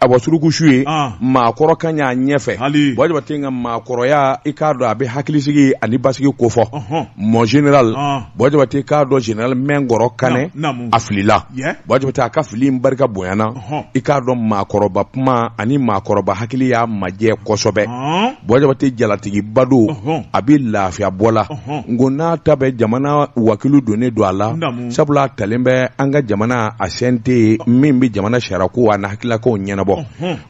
a bɔ suruku su ye ah. maakɔrɔ ka ɲa ɲɛfɛ buwa jabate ka maakɔrɔya i k'a dɔn a bɛ hakilisigi ani basigi kofɔ mon général buwa jabate k'a dɔn général minkɔrɔ kanɛ a filila buwa jabate a ka fili in barika bonyana i k'a dɔn maakɔrɔba kuma ani maakɔrɔba hakili y'a majɛ kosɛbɛ buwa jabate jalatigiba don a bɛ lafiya bɔ la nk'o n'a ta bɛɛ jamana wakilu donnen don a la sabula a talen bɛ an ka jamana a CNT min bɛ jamana sariyako a n'a hakililakow ɲɛnabɔ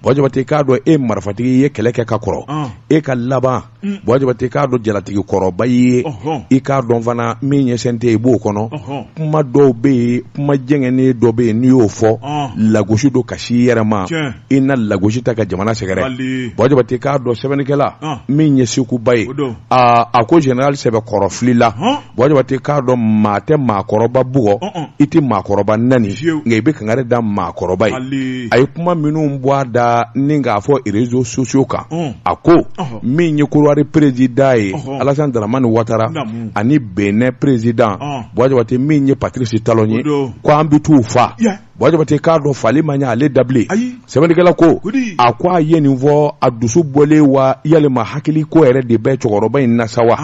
buwa jabate k'a dɔn e marifatigi ye kɛlɛ kɛ ka kɔrɔ e ka laban buwa jabate k'a dɔn jalatigi kɔrɔba ye i k'a dɔn fana min ye CNT i b'o kɔnɔ kuma dɔw bɛ yen kuma jɛngɛnnen dɔ bɛ yen n'i y'o fɔ lagosi don ka se i yɛrɛ ma i na lagosi ta ka jamana sɛgɛrɛ buwa jabate k'a dɔn sɛbɛnnikɛla min ye sekuba ye a ko général sɛbɛkɔrɔ filila buwa jabate k'a dɔn maa tɛ maakɔrɔba bugɔ i tɛ maakɔrɔba nani nka i bɛ kangari da maakɔrɔba ye a ye kuma minnu bɔ a da nin k'a fɔ réseaux sociaux kan a ko min ye korowari président ye alasan daramani watara ani benɛn président buwa jabate min ye patirisi talon ye ko an bɛ t' u faa buwa jabate k'a dɔn faali ma ɲɛ ale da bilen sɛbɛnnikɛla ko a ko a ye nin fɔ a dusu bɔlen wa yalima hakili ko yɛrɛ de bɛ cɛkɔrɔba in na sa wa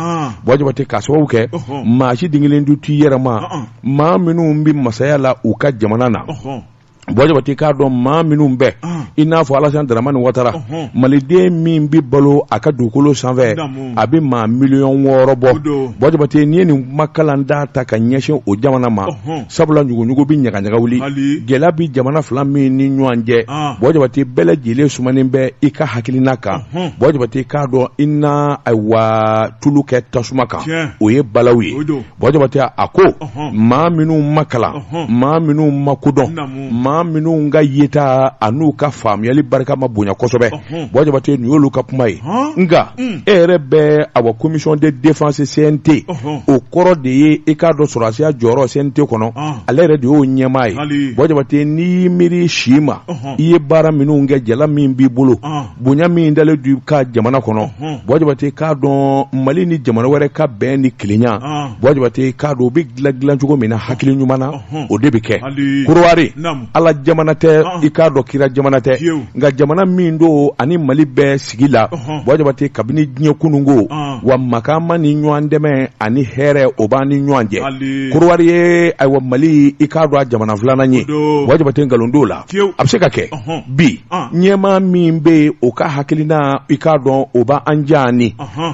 buwa jabate k'a sababu kɛ maa si den kelen du t'i yɛrɛ ma maa minnu bɛ masaya la u ka jamana na buwa jabate k'a dɔn maa minnu bɛ i n'a fɔ alasan daramani watara maliden min bɛ balo a ka dugukolo sanfɛ a bɛ maa miliyɔn wɔɔrɔ bɔ buwa jabate n'i ye nin kumakalan da ta ka ɲɛsin o jamana ma sabula ɲuguɲugu bɛ ɲagaɲaga wuli gɛlɛya bɛ jamana fila min ni ɲɔgɔn cɛ ah. buwa jabate bɛɛ lajɛlen sumanen bɛ i ka hakilina kan buwa jabate k'a dɔn i na ayiwa tulu kɛ tasuma kan o ye balawu ye buwa jabate a ko maa minnu ma kalan maa minnu ma ko dɔn maa minnu ka yeta a n'u ka faamuyali barika ma bonya kosɛbɛ Hmm. Buwa jabate nin y'olu ka kuma ye hmm. nka hmm. e yɛrɛ bɛ awa commission de défense CNT o kɔrɔ de ye i k'a dɔn sɔrɔdasiya jɔyɔrɔ CNT kɔnɔ ale yɛrɛ de y'o ɲɛmaa ye buwa jabate n'i y'i miiri si ma i ye baara minnu kɛ jala min b'i bolo bonya min dalen du ka jamana kɔnɔ buwa jabate k'a dɔn Mali ni jamana wɛrɛ ka bɛn ni kelenya buwa jabate k'a dɔn o bɛ dilan dilan cogo min na hakili ɲuman na o de bɛ kɛ korowari ala jamana tɛ i k'a dɔn kira jamana tɛ nka jamana min don ani mali bɛ sigi la buwa jabate kabini diɲɛ kununko wa makan ma ni ɲɔgɔn dɛmɛ ani hɛrɛ o b'an ni ɲɔgɔn cɛ korowari ye ayiwa mali i k'a dɔn a jamana filanan ye buwa jabate nkalon t'o la a bɛ se ka kɛ bi ɲɛmaa min bɛ o ka hakilina i k'a dɔn o b' an ja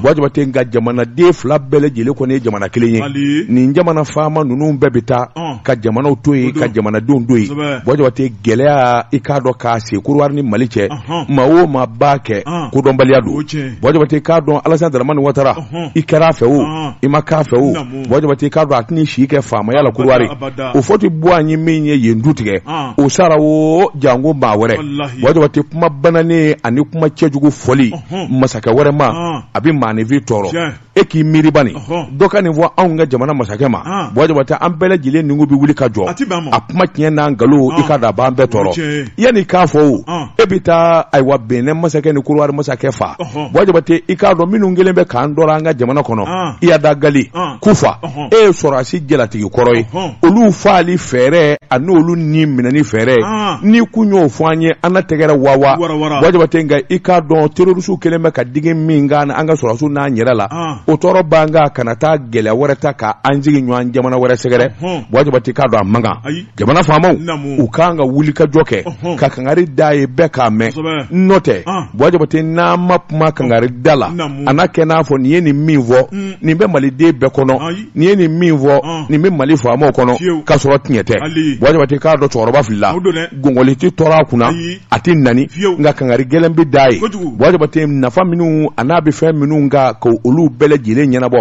buwa jabate nka jamanaden fila bɛɛ lajɛlen kɔni ye jamana kelen ye nin jamana faama ninnu bɛɛ bɛ taa ka jamanaw to yen ka jamanadenw to yen buwa jabate gɛlɛya i k'a dɔn k'a se korowari ni mali cɛ maa o maa b'a kɛ kodɔnbaliya don buwa jabate i k'a dɔn alassane dramane ouattara i kɛra a fɛ o i ma k'a fɛ o buwa jabate i k'a dɔn a tɛna si kɛ faamaya la korowari houphouët boigny min ye yen dutigi o sara o janko maa wɛrɛ buwa jabate kuma bananen ani kuma cɛjugu fɔli masakɛ wɛrɛ ma a bɛ maanifin tɔɔrɔ e k'i miiri bani dɔ ka nin fɔ anw ka jamana masakɛ ma buwa jabate an bɛɛ lajɛlen nugu bɛ wuli ka jɔ a kuma tiɲɛ n'a nkalon i ka da a b'an bɛɛ tɔɔrɔ yanni k'a fɔ o e bɛ taa ayiwa benin masakɛ ni korowari masakɛ faa buwa jabate i k'a dɔn minnu kɛlen bɛ k'an tɔɔrɔ an ka jamana kɔnɔ iyad ag ghali koufa e ye sɔrɔdasi jalatigi kɔrɔ ye olu faali fɛɛrɛ ani olu ni minɛni fɛɛrɛ n'i kun y'o fɔ an ye an na tɛgɛrɛ wawa buwa jabate nka i k'a dɔn terrorisiw kɛlen bɛ ka digi min kɛ an ka sɔrɔdasiw n'an yɛrɛ la o tɔɔrɔ b'an kan kana taa gɛlɛya wɛrɛ ta ka an sigiɲɔgɔn jamana wɛrɛ sɛgɛrɛ buwa jabate k'a dɔn a man kan jamana faamaw u kan ka wuli ka jɔ kɛ ka kangari d'a ye bɛɛ k'a mɛn n'o tɛ buwa jabate n'an ma kuma kangari da la a na kɛ n'a fɔ nin ye nin min fɔ mm. nin bɛ maliden bɛɛ kɔnɔ nin ye nin min fɔ nin bɛ mali faamaw kɔnɔ k'a sɔrɔ tiɲɛ tɛ buwa jabate k'a dɔn cɛkɔrɔba filila gɔngɔli tɛ tɔɔrɔ a kunna a tɛ nani nka kangari gɛlɛn bɛ d'a ye buwa jabate nafa minnu a n'a bɛ fɛn minnu ka ka olu bɛɛ lajɛlen ɲɛnabɔ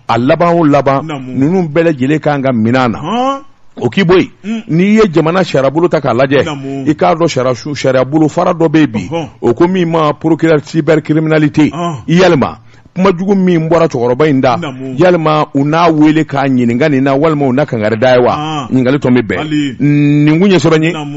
a laban o laban ninnu bɛɛ lajɛlen kan ka minɛ na o k'i bɔ yen mm. n'i ye jamana sariyabolo ta k'a lajɛ i k'a dɔn sariya bolofara dɔ bɛ yen bi u ko min ma procureur cybercriminalité ah. yalima kuma jugu min bɔra cɛkɔrɔba in da yalima u n'a wele k'a ɲininka nin na walima u na kangari d'a ye wa ah. ɲininkali tɔ min bɛ nin kun ye sɛbɛ ye